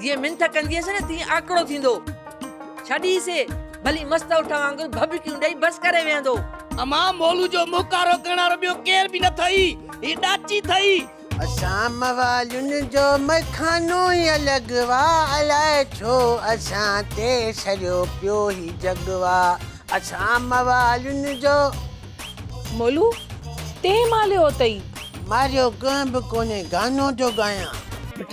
جيئن منٿ ڪنديس نه تيئن آڪڙو ٿيندو. ڇڏي سي، ڀلي مست اٺ وانگر ڀڀڪيون ڏئي بس ڪري ويهندو. امان مولو جو موڪارو ڪرڻ وارو ٻيو ڪير به نه ٿئي، هي ڏاچي ٿئي. اسان موالين جو مئخانو ئي الڳ وا، الاء ڇو اسان تي سريو پيو هي جڳ وا، اسان موالين جو. مولو، تين ماليو اٿئي. ماريو ڪنهن به ڪونهي گانو جو ڳايان. پٽ،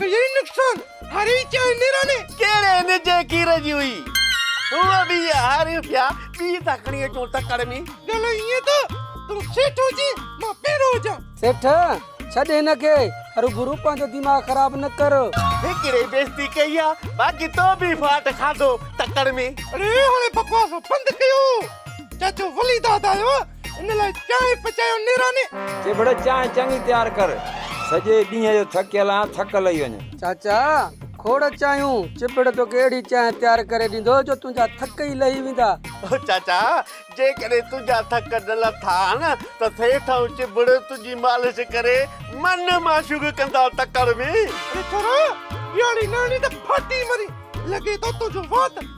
ڪيئي نقصان هاري چئي نيراڻي. ڪهڙي نجي کير جي هئي. هوء به هاري ٿيا ٻي ٿا کڻي اچون تڪڙ ۾. ڄڻ ائين ته تون سيٺ هجين مان پيرو هجان. سيٺ، ڇڏ هن کي هروڀرو پنهنجو دماغ خراب نه ڪر. هڪڙي بيستي ڪئي آ باقي تو به ڦاٽ کاڌو تڪڙ ۾. اڙي هاڻي بڪواس بند ڪيو. چاچو وليداد آيو آ ان لاء چانهه پچايو نيراني. چي ڀڙ چانهه چڱي تيار ڪر. سڄي ڏينهن جو ٿڪيل آهيان ٿڪ لهي وڃ. چاچا کوڙ چانهيون. چٻڙ توکي اهڙي چانهه تيار ڪري ڏيندو جو تنهنجا ٿڪ ئي لهي ويندا. او چاچا جيڪڏهن تنهنجا ٿڪ نه لٿا آهن ته سيٺ ۽ چٻڙ تنهنجي مالش ڪري من معشوق ڪندا تڪڙ ۾. اڙي ڇورا اهڙي نيڻي ته ڦاٽي مرين. لڳي ٿو تنهنجو وات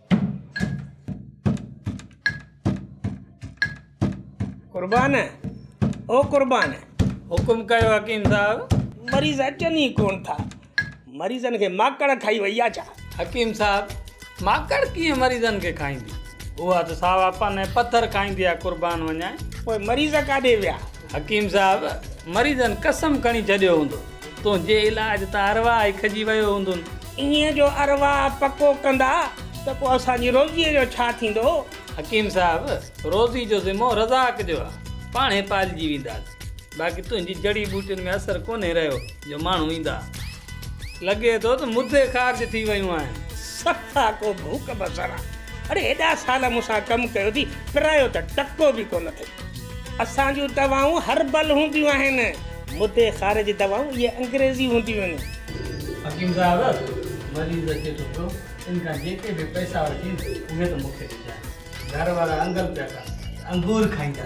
قربان او قربان حڪم ڪيو حڪيم صاحب مريض اچن ئي ڪون ٿا مريضن کي ماڪڙ کائي وئي آ ڇا؟ حڪيم صاحب ماڪڙ ڪيئن مريضن کي کائيندي اها ته ساوا پن ۽ پٿر کائيندي آ قربان وڃان. پوء مريض ڪاڏي ويا؟ حڪيم صاحب مريضن قسم کڻي ڇڏيو هوندو تنهنجي علاج تان ارواح ئي کڄي ويو هوندون. ايئن جو ارواح پڪو ڪندا ته پوء اسان جي روزيء جو ڇا ٿيندو؟ حڪيم صاحب روزي جو ذمو رزاق جو آ پاڻ هي پالجي وينداسين باقي تنهنجي جڙي ٻوٽين ۾ اثر ڪونهي رهيو جو ماڻهو ايندا. لڳي ٿو ته مدي خارج ٿي ويون آهن. صفا ڪو ڀوڪ بصر آ. اڙي هيڏا سال مون سان ڪم ڪيو ٿي پرايو ته ٽڪو به ڪونه اٿئي. اسان جون دوائون هربل هونديون آهن. مدي خارج دوائون اهي انگريزي هونديون آهن. حڪيم صاحب مريض اچي ٿو پيو ان کان جيڪي به پئسا وٺين اهي ته مون کي ڏجانء. گهر وارا انگل پيا ڪن ته انگور کائيندا.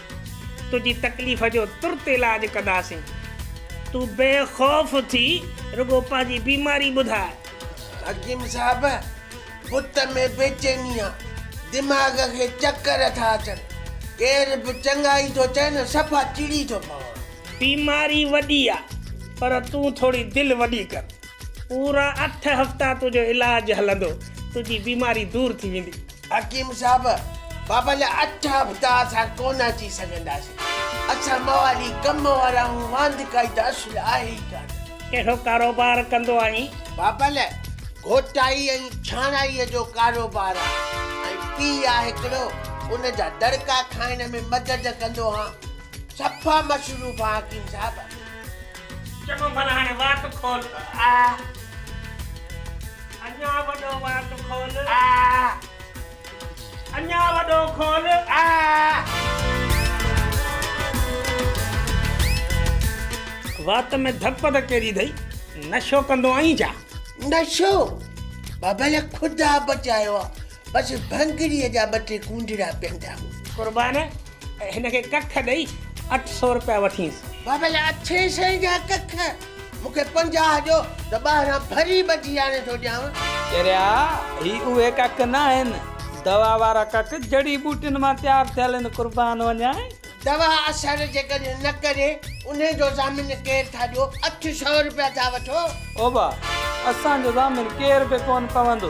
تنهنجي تڪليف جو ترت علاج ڪنداسين. تون بي خوف ٿي رڳو پنهنجي بيماري ٻڌاء. حڪيم صاحب، بت ۾ بيچيني آ، دماغ کي چڪر ٿا اچن، ڪير به چڱائي ٿو چئي نه صفا چڙي ٿو پوان. بيماري وڏي آ، پر تون ٿوري دل وڏي ڪر. پورا اٺ هفتا تنهنجو علاج هلندو، تنهنجي بيماري دور ٿي ويندي. حڪيم صاحب، بابا جا اٺ هفتا اسان ڪونه اچي سگهنداسين. اسان موالي ڪم وارا آهيون، واندڪائي ته اصل آهي ئي ڪانه. ڪهڙو ڪاروبار ڪندو آهين؟ بابل، گهوٽائي ۽ ڇاڻائيء جو ڪاروبار آهي ۽ پيء آهي هڪڙو، ان جا دڙڪا کائڻ ۾ مدد ڪندو آهيان. صفا مصروف آهيان حڪيم صاحب. چڱو ڀلا هاڻي وات کول آ. اڃا وڏو وات کول آ. اڃا وڏو کول آ. وات ۾ ڌڪ پڌڪ ڪيڏي اٿئي. نشو ڪندو آهين ڇا؟ نشو؟ بابل خدا بچايو آ. بس ڀنگڙيء جا ٻه ٽي ڪونڊڙا پيئندا هئا. قربان! هن کي ڪک ڏئي اٺ سو روپيا وٺينس. بابا جا اٺين سين جا ڪک مون کي پنجاهه ڏيو ته ٻاهران ڀري ٻجي آڻي ٿو ڏيانو. چريا هي اهي ڪک ناهن دوا وارا ڪک جڙي ٻوٽين مان تيار ٿيل هن قربان وڃائين. دوا اثر جيڪڏهن نه ڪري انهي جو ضامن ڪير ٿا ڏيو اٺ سو روپيا ٿا وٺو. اوبا اسان جو ضامن ڪير به ڪون پوندو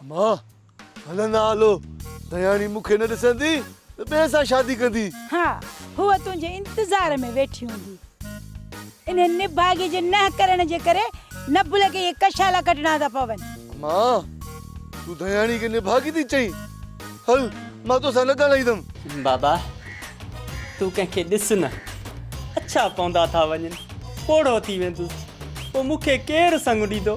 اما هلندا هلو دياڻي مون کي نه ڏسندي ته ٻئي سان شادي ڪندي. ها هوء تنهنجي انتظار ۾ ويٺي هوندي. انهن نڀاڳي جي نه ڪرڻ جي ڪري نبل کي اهي ڪشالا ڪڍڻا ٿا پون. اما تون دياڻي کي نڀاڳي ٿي چئين. هل مان تو سان نه ڳالهائيندم. بابا تون ڪنهن کي ڏس نه. اڇا پوندا ٿا وڃن. پوڙهو ٿي ويندس. پوء مون کي ڪير سڱ ڏيندو.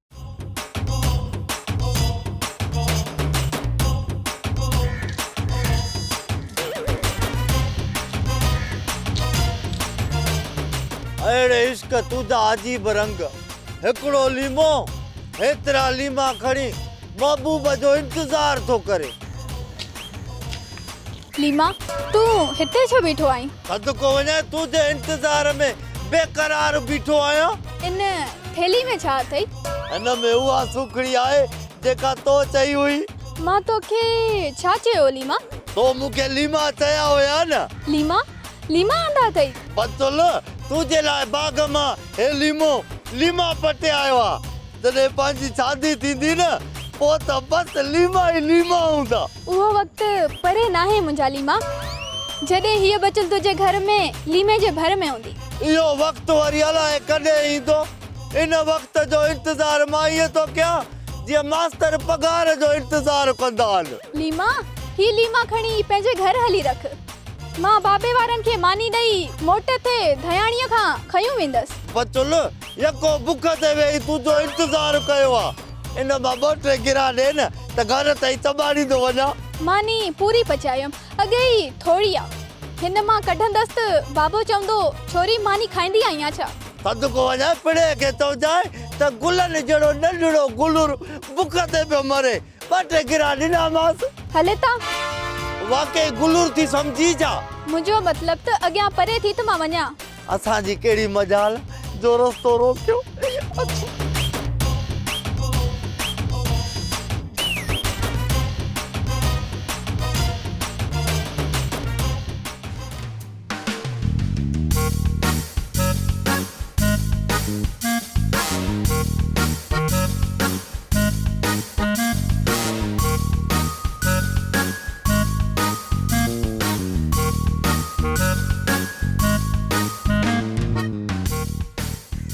اڙي عشق تنهنجا عجيب رنگ هڪڙو ليمو هيترا ليما کڻي محبوب جو انتظار ٿو ڪري. ليما، تون هتي ڇو بيٺو آهين؟ صدقو وڃان، تون جي انتظار ۾ بي قرار بيٺو آهيان. ان ٿيلهي ۾ ڇا اٿئي؟ هن ۾ اها سوکڙي آهي، جيڪا تو چئي هئي. مان توکي ڇا چيو هو ليما؟ تو مون کي ليما چيا هيا نه؟ ليما، ليما آندا اٿئي. بتول، تنهنجي لاء باغ مان هي ليمو، ليما، پٽي آيو آ. جڏهن پنهنجي شادي ٿيندي نه، پوء ته بس ليما ئي ليما هوندا. اهو وقت پري ناهي منهنجا ليما، جڏهن هيء بتول تنهنجي گهر ۾ ليمي جي ڀر ۾ هوندي. اهو وقت وري الاء ڪڏهن ايندو. ان وقت جو انتظار مان ائين ٿو ڪيان، جيئن ماستر پگهار جو انتظار ڪندا آهن. ليما، هي ليما کڻي پنهنجي گهر هلي رک. مان بابي وارن کي ماني ڏئي موٽ ٿي ڌياڻيء کان کنيون ويندس. بچل يڪو بک تي ويهي تنهنجو انتظار ڪيو آ. ان مان ٻه ٽي گرها ڏي نه ته گهر تائين چٻاڙيندو وڃان. ماني پوري پچايم، اڳي ئي ٿوري آ. هن مان ڪڍندس ته بابو چوندو ڇوري ماني کائيندي آهيان ڇا؟ صدقو وڃان پڻهيء کي چئجانء ته گلن جهڙو ننڍڙو گلور بک تي پيو مري. ٻه ٽي گرا ڏنامانس. هلي تان. واقعي گلور ٿي سمجهي جا. منهنجو مطلب ته اڳيان پري ٿي ته مان وڃان. اسان جي ڪهڙي مجال جو رستو روڪيو.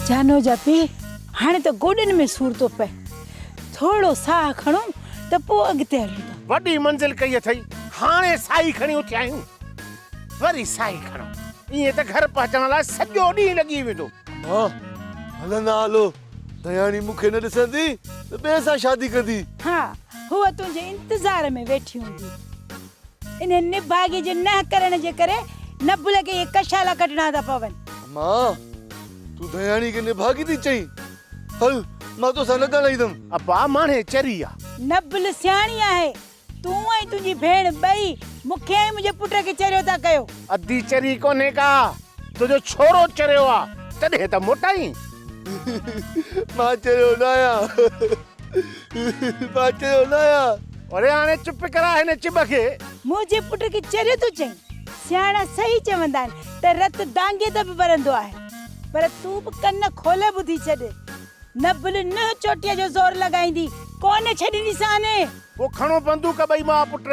جانو جا پيء هاڻي ته گوڏن ۾ سور ٿو پئي ٿورڙو ساهه کڻون ته پوء اڳتي هلون ٿا. وڏي منزل ڪئي اٿئي هاڻي ساهي کڻي اٿيا آهيون. وري ساهي کڻو. ائين ته گهر پهچڻ لاء سڄو ڏينهن لڳي ويندو. اما، هلندا هلو. دياڻي مون کي نه ڏسندي ته ٻئي سان شادي ڪندي. ها، هوء تنهنجي انتظار ۾ ويٺي هوندي. انهن نڀاڳي جي نه ڪرڻ جي ڪري نبل کي اهي ڪشالا ڪڍڻا ٿا پون. اما، تون دياڻي کي نڀاڳي ٿي چئين. هل، مان توسان نه ڳالهائيندم. ابا، ماڻهي چري آ. نبل سياڻي آهي. تون ۽ تنهنجي ڀيڻ ٻئي مون کي ۽ منهنجي پٽ کي چريو ٿا ڪيو. ادي چري ڪونهي ڪا تنهنجو ڇورو چريو آ تڏهن ته موٽائين. مان چريو نه آهيان مان چريو نه آهيان. اڙي هاڻي چپ ڪراء هن چٻ کي. منهنجي پٽ کي چريو ٿو چئين. سياڻا صحيح چوندا آهن ته رت دانگيء تي به ٻرندو آهي. پر تون به ڪن کولي ٻڌي ڇڏ. نه بل نوح چوٽيء جو زور لڳائيندي ڪونه ڇڏينديسانء. پوء کڻو بندوق ٻئي ماء پٽ،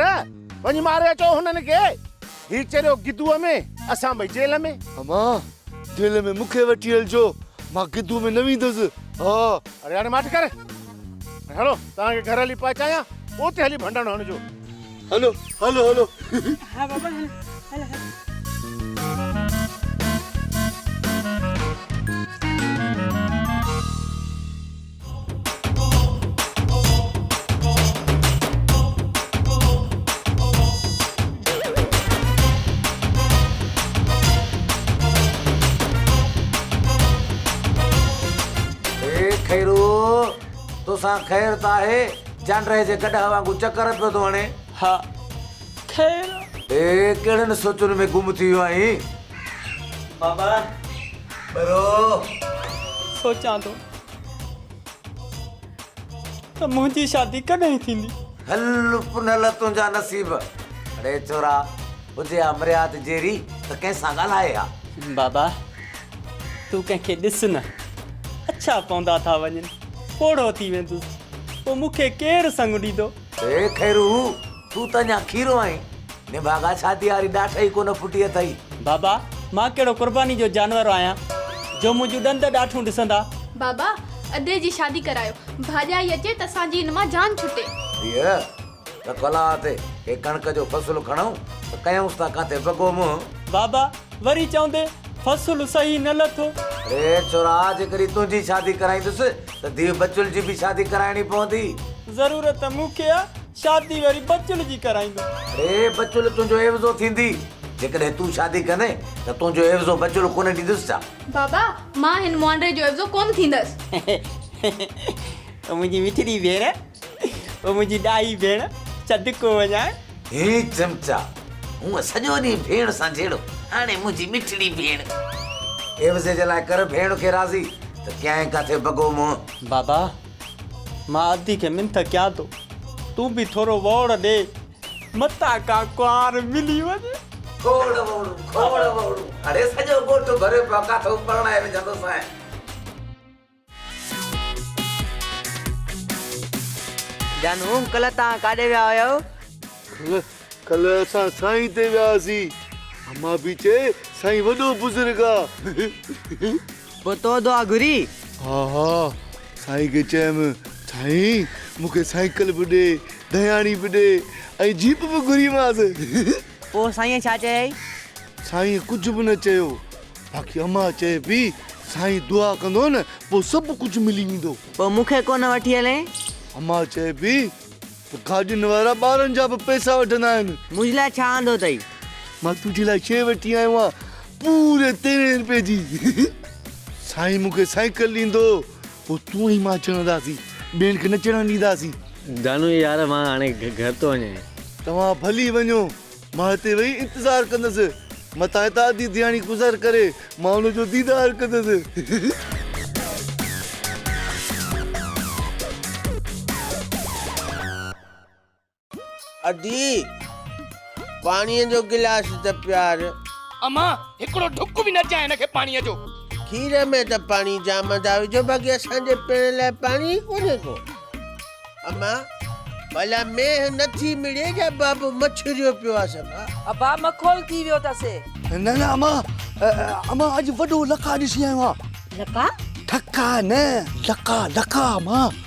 وڃي ماري اچو هنن کي. هي چريو گدوء ۾، اسان ٻئي جيل ۾. امان! جيل ۾ مون کي وٺي هلجو، مان گدوء ۾ نه ويندس. ها! اڙي هاڻي ماٺ ڪر ۽ هلو توهان کي گهر هلي پهچايان، پوء اتي هلي ڀنڊڻ هڻجو. هلو، هلو، هلو. ها بابا هل، هل، هل. اي خيرو! توسان خير ته آهي؟ جانڊرهي جي گڏهه وانگون چڪر پيو ٿو هڻين. ها خير! اي ڪهڙين سوچن ۾ گم ٿي ويو آهين؟ بابا! ٻرو! سوچان ٿو. ته منهنجي شادي ڪڏهن ٿيندي. هل پنهل تنهنجا نصيب. اڙي ڇورا، هجي ها مرياد جيري ته ڪنهن سان ڳالهائي ها. بابا، تون ڪنهن کي ڏس نه. اڇا پوندا ٿا وڃن، پوڙهو ٿي ويندس، پوء مون کي ڪير سڱ ڏيندو؟ اي خيرو! تون ته اڃا کيرو آهين. نڀاڳا شاديء واري ڏاٺ ئي ڪونه ڦٽي اٿئي. بابا! مان ڪهڙو قرباني جو جانور آهيان، جو منهنجيون ڏند ڏاٺون ڏسندا. بابا! ادي جي شادي ڪرايو. ڀاڄائي اچي ته اسان جي هن مان جان ڇٽي. ڌيء! ته ڪلهه تي ڪي ڪڻڪ جو فصل کڻئون ته ڪيائونس ٿا ڪاٿي بگو منهن. بابا! وري چوندين فصل صحيح نه لٿو. اڙي ڇورا! جيڪڏهن تنهنجي شادي ڪرائيندس ته ڌيء بچل جي به شادي ڪرائڻي پوندي. ضرورت مون کي آ، شادي وري بچل جي ڪرائيندو. اڙي بچل تنهنجو عيوضو ٿيندي. جيڪڏهن تون شادي ڪندين ته تنهنجو عيوضو بچل ڪونه ڏيندس ڇا؟ بابا مان هن مهانڊي جو عيوضو ڪونه ٿيندس. منهنجي مٺڙي ڀيڻ. او منهنجي ڏاهي ڀيڻ چڌ ڪو وڃان. هي چمچا هونء سڄو ڏينهن ڀيڻ سان جهيڙو هاڻي منهنجي مٺڙي ڀيڻ. عيوضي جي لاء ڪر ڀيڻ کي راضي ته ڪيائين ڪاٿي بگو منهن. بابا مان ادي کي منٿ ڪيان ٿو تون به ٿورو وئوڙ ڏي متان ڪا ڪنوار ملي وڃي. کوڙ وئوڙون کوڙ وئوڙون اڙي سڄو ڳوٺ ڀريو پيو آ ڪاٿو پرڻائي وجهندوسانء. جان هوم ڪلهه توهان ڪاڏي ويا هيؤ؟ ڪلهه ڪلهه اسان سائين تي ويا هئاسين. اما به چئي سائين وڏو بزرگ آ. پوء تو دعا گهري؟ ها ها سائين کي چيم سائين مون کي سائيڪل به ڏي، ڌياڻي به ڏي ۽ جيپ به گهريمانس. پوء سائينء ڇا چيائين؟ سائينء ڪجهه به نه چيو، باقي اما چئي پئي، سائين دعا ڪندو نه، پوء سڀ ڪجهه ملي ويندو. پوء مون کي ڪونه وٺي هلين؟ اما چئي پئي ته گاڏين وارا ٻارن جا به پئسا وٺندا آهن. منهنجي لاء ڇا آندو اٿئي؟ مان تنهنجي لاء شيء وٺي آيو آهيان، پوري تيرهين روپيه جي. سائين مون کي سائيڪل ڏيندو، پوء تون ۽ مان چڙهنداسين. ٻين کي نه چڙهڻ ڏينداسين. دانو، يار مان هاڻي گهر ٿو وڃين. توهان ڀلي وڃو. مان هتي ويهي انتظار ڪندس. متان هتان اڌي ڌياڻي گذر ڪري مان ان جو ديدار ڪندس. ادي! پاڻيء جو گلاس ته پيار. امان! هڪڙو ڍڪ به نه ڏجانء هن کي پاڻيء جو. کير ۾ ته پاڻي جام ادا وجهو باقي اسان جي پيئڻ لاء پاڻي ئي ڪونهي ڪو. امان! ڀلا مينهن نه ٿي مڙي جا بابو مڇريو پيو آ صفا. ابا مکول ٿي ويو اٿس. نه نه امان! امان اڄ وڏو لقاء ڏسي آيو آ. لقاء؟ ٽھڪاء نه لقاء لقاء امان.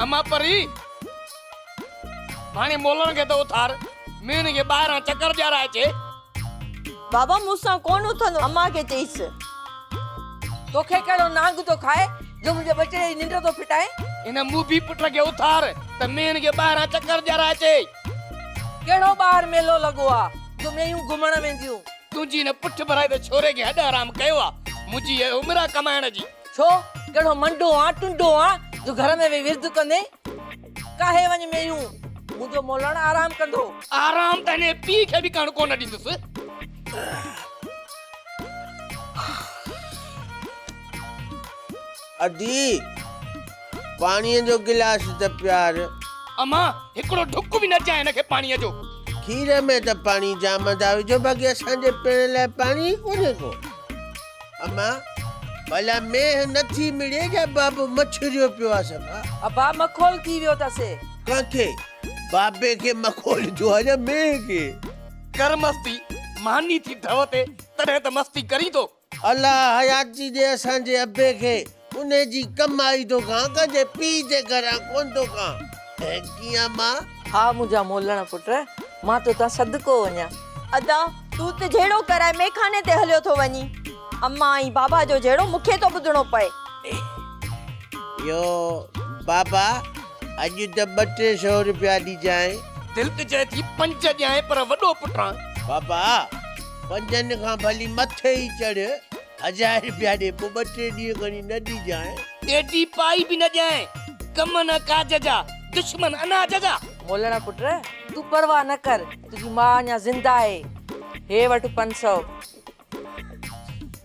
اما پري! هاڻي مولڻ کي ته اٿار، مينهن کي ٻاهران چڪر ڏيارائجي. بابا مون سان ڪونه اٿندو امان کي چئيس. توکي ڪهڙو نانگ ٿو کائي جو منهنجي ٻچڙي جي ننڊ ٿو ڦٽائين. هن موڀي پٽ کي اٿار ته مينهن کي ٻاهران چڪر ڏيارائي اچي. ڪهڙو ٻاهر ميلو لڳو آ جو مينهيون گهمڻ وينديون. تنهنجي هن پٺ ڀرائي ته ڇوري کي هڏ حرام ڪيو آ منهنجي هيء عمر آ ڪمائڻ جي. ڇو ڪهڙو منڊو آن ٽنڊو آن جو گهر ۾ ويهي ورد ڪندين. ڪاهي وڃ ميون، منهنجو مولڻ آرام ڪندو. آرام ته هنئين پيء کي به ڪرڻ ڪونه ڏيندس. ادي، پاڻيء جو گلاس ته پيار. امان، هڪڙو ڍڪ به نه ڏجانء هن کي پاڻيء جو. کير ۾ ته پاڻي جام ادا وجهو، باقي اسان جي پيئڻ لاء پاڻي ئي ڪونهي ڪو. اما ڀلا مينهن نٿي مڙي جا بابو مڇريو پيو آ سا ابا مکول ٿي ويو تس ڪنهن کي بابي کي مکول ٿيو آ جا مينهن کي ڪر مستي ماني ٿي ڍؤ تي تڏهن ته مستي ڪرين ٿو الله حياتي ڏي اسان جي ابي کي ان جي ڪمائي ٿو کان، ڪنهنجي پيء جي گهران ڪونه ٿو کان. ۽ ڪيئن مان؟ ها منهنجا مولڻ پٽ، مان تو تان صدقو وڃان. ادا، تون ته جهيڙو ڪرائي ميخاني تي هليو ٿو وڃين. امان ۽ بابا جو جهيڙو مون کي ٿو ٻڌڻو پئي. يو بابا، اڄ ته ٻه ٽي سو روپيا ڏجانء. تلڪ چئي ٿي، پنج ڏيانء پر وڏو پٽان. بابا، پنجن کان ڀلي مٿي ئي چڙهه. هزار رپيا ڏي پوء ٻه ٽي ڏينهن کڻي نه ڏجانء. ڏيڍي پائي به نه ڏيانء. ڪم نه ڪاج جا، دشمن اناج جا. مولڻا پٽ! تون پرواهه نه ڪر، تنهنجي ماء اڃا زنده آهي. هي وٺ پنج سؤ.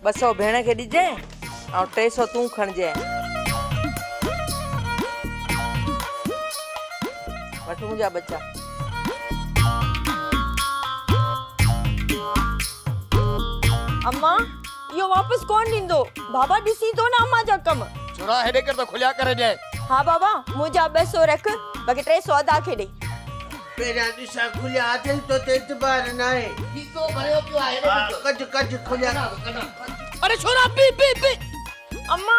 ٻه سؤ ڀيڻ کي ڏجانء ۽ ٽي سؤ تون کڻجانء. وٺ منهنجا ٻچا. اما اهو واپس ڪونه ڏيندو. بابا ڏسين ٿو نه اما جا ڪم. ڇورا هيڏي ڪر ته کليا ڪري ڏي. ها بابا منهنجا ٻه سو رک باقي ٽي سو ادا کي ڏي. پهريان ڏسان کليا اٿئي تو تي اعتبار ناهي. کيسو ڀريو پيو آهي هيڏي ڏس. ڪڍ ڪڍ کليا. اڙي ڇورا پي پي پي. اما.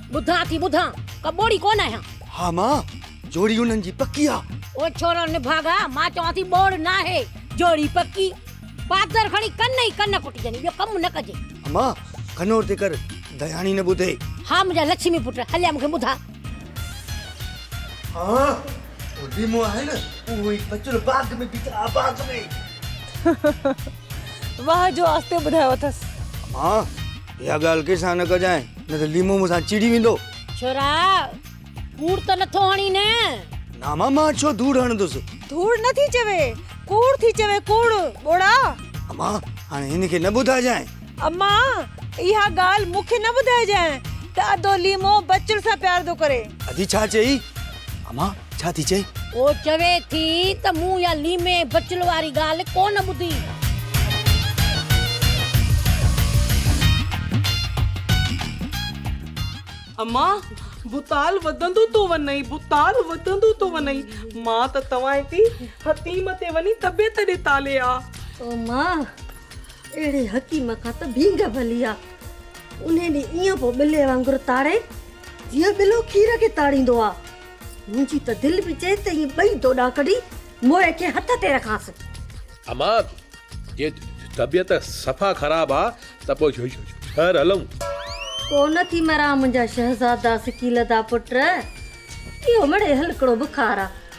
ٻڌان ٿي ٻڌان، ڪا ٻوڙي ڪونه آهيان. ها ماء، جوڙي انهن جي پڪي آ. او ڇورو نڀاڳا، مان چوان ٿي ٻوڙ ناهي، جوڙي پڪي. پادر کڻي ڪن ئي ڪن ڪٽجني، ٻيو ڪم نه ڪجي. اما، کنور تي ڪر، دياڻي نه ٻڌي. ها منهنجا لڇمي پٽ، هليا مون کي ٻڌاء. ها، او ليمو آهي نه، اهو ئي بچل باغ ۾ بيٺا آ، باغ ۾. واهه جو آستي ٻڌايو اٿس. اما! اها ڳالهه ڪنهن سان نه ڪجانء، نه ته ليمو مون سان چيڙي ويندو. ڇورا! ڪوڙ ته نٿو هڻين نه؟ نه امان، مان ڇو ڌوڙ هڻندس. ڌوڙ نه ٿي چوي، ڪوڙ ٿي چوي، ڪوڙ، ٻوڙا. امان، هاڻي هن کي نه ٻڌائجانء. امان، اها ڳالهه مون کي نه ٻڌائجانء ته ادو ليمو بچڙ سان پيار ٿو ڪري. ادي ڇا چيئي؟ امان ڇا ٿي چئي؟ هو چوي ٿي ته مون اها ليمي بچل واري ڳالهه ڪو نه ٻڌي. امان ڀوتال وڌندو ٿو وڃئي ڀوتال وڌندو ٿو وڃئي مان ته توهان جي حتيم تي وڃي طبيعت ڏي تالي آ. امان اهڙي حڪيم کان ته ڀينگ ڀلي آ. انهيء ڏينهن ائين پيو ٻلي وانگر تاڙي، جيئن ٻلو کير کي تاڙيندو آ. منهنجي ته دل پي چئي ته اهي ٻئي دوڏا ڪڍي موئي کي هٿ تي رکانس. اما، جي طبيعت صفا خراب آ ته پوء شهر هلون. ڪو نه ٿي مران منهنجا شهزادا سڪيل دا پٽ، اهو مڙئي هلڪڙو بخار آ.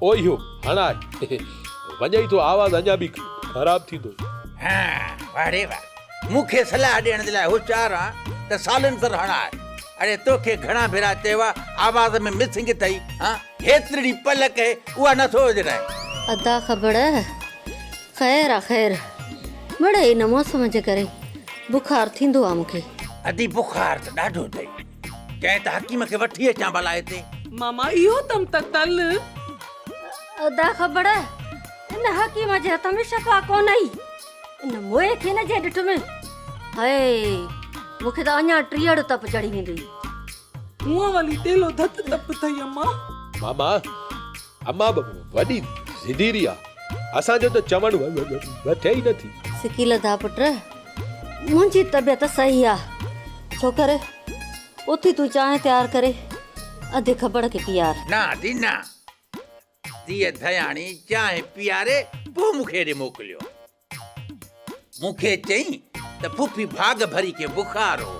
او اهو هڻ آء وڃئي ٿو آواز اڃا به خراب ٿيندو. ها واه ڙي واه مون کي صلاح ڏيڻ جي لاء هوشيار آن ته سالينسر هڻ آء اڙي تو کي گهڻا ڀيرا چيو آ آواز ۾ مسنگ اٿئي ها هيترڙي پل ڪهي اها نه ٿو وجهرائين. ادا کبڙ خير آ خير مڙئي ان موسم جي ڪري بخار ٿيندو آ مون کي. ادي بخار ته ڏاڍو ٿئي ڪنهن ته حڪيم کي وٺي اچان ڀلا هتي. ماما اهو تم ته تل. ادا خبر ان حڪيم جي هٿ ۾ شفا ڪونهي. ان موئي کي نه جي ڏٺ ۾ هاي مون کي ته اڃا ٽيهڙ تپ چڙهي ويندي. هونء ولي ٽيلو ڌت تپ ٿئي امان. ماما اما به وڏي ضديري آ. اسان جو ته چوڻ وٺي ئي نٿي. سڪي لڌا پٽ. منهنجي طبيعت صحيح آ. ڇوڪر اٿي تون چانهه تيار ڪري اڌ کبڙ کي پيار. نه آتي نه. ڌيء ڌياڻي چانهه پياري پوء مون کي هيڏي موڪليو. مون کي چئين ته ڦڦي ڀاڳ ڀري کي بخار هو،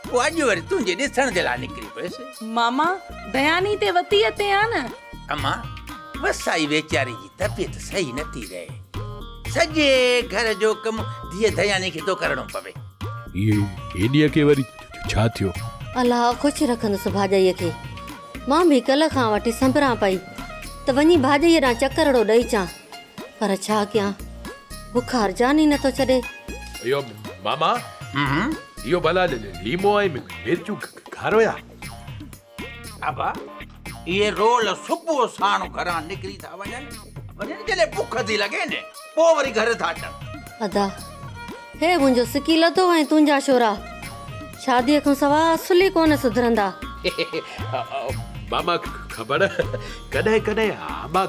پوء اڄ وري تنهنجي ڏسڻ جي لاء نڪري پيس. ماما دياني تي وتي اتي آ نه. اما وسائي ويچاري جي طبيعت صحيح نٿي رهي، سڄي گهر جو ڪم ڌيء دياني کي ٿو ڪرڻو پوي. هيء هيڏيء کي وري ڇا ٿيو؟ الله خوش رکندس ڀاڄائيء کي. مان به ڪلهه کان وٺي سنبران پئي ته وڃي ڀاڄائيء ڏانهن چڪرڙو ڏئي اچان. پر ڇا ڪيان بک هرجان ئي نٿو ڇڏي. اهو ماما اهو ڀلا ليمو ۽ مرچون کارو يا؟ ابا اهي رول صبح ساڻ گهران نڪري ٿا وڃن وڃن جڏهن بک ٿي لڳي نه پوء وري گهر ٿا اچن. ادا هي منهنجو سڪي لڌو ۽ تنهنجا شورا شادي کان سوا اصل ئي ڪونه سڌرندا. ماما خبر ڪڏهن ڪڏهن امان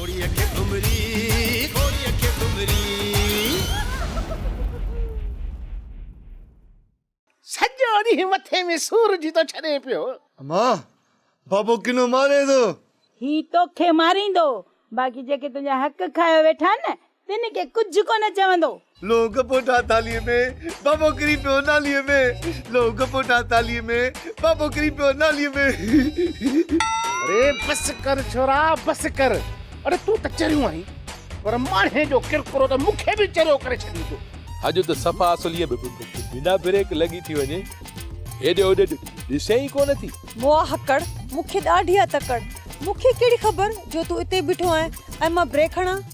گهوڙي کي گهمري گهوڙي کي گهمري. سڄو ڏينهن مٿي ۾ سور جي ٿو ڇڏي پيو. اما بابو ڪنو ماري ٿو. هي توکي ماريندو باقي جيڪي تنهنجا حق کايو ويٺا آهن نه تن کي ڪجهه ڪونه چوندو. لوگ پوٽا ٿالهيء ۾، بابو ڪري پيو ناليء ۾. لوگ پوٽا ٿالهيء ۾، بابو ڪري پيو ناليء ۾. اري بس ڪر ڇورا بس ڪر. اڙي تون ته چريو آهين پر ماڻهي جو ڪرڪرو ته مون کي به چريو ڪري ڇڏيندو. اڄ ته صفا اصليء ۾ بنا بريڪ لڳي ٿي وڃي. هيڏي هوڏي ڏسين ئي ڪونه ٿي. موآ هڪڙ، مون کي ڏاڍي آ تڪڙ. مون کي ڪهڙي خبر جو تون اتي بيٺو آهين ۽ مان بريڪ هڻان.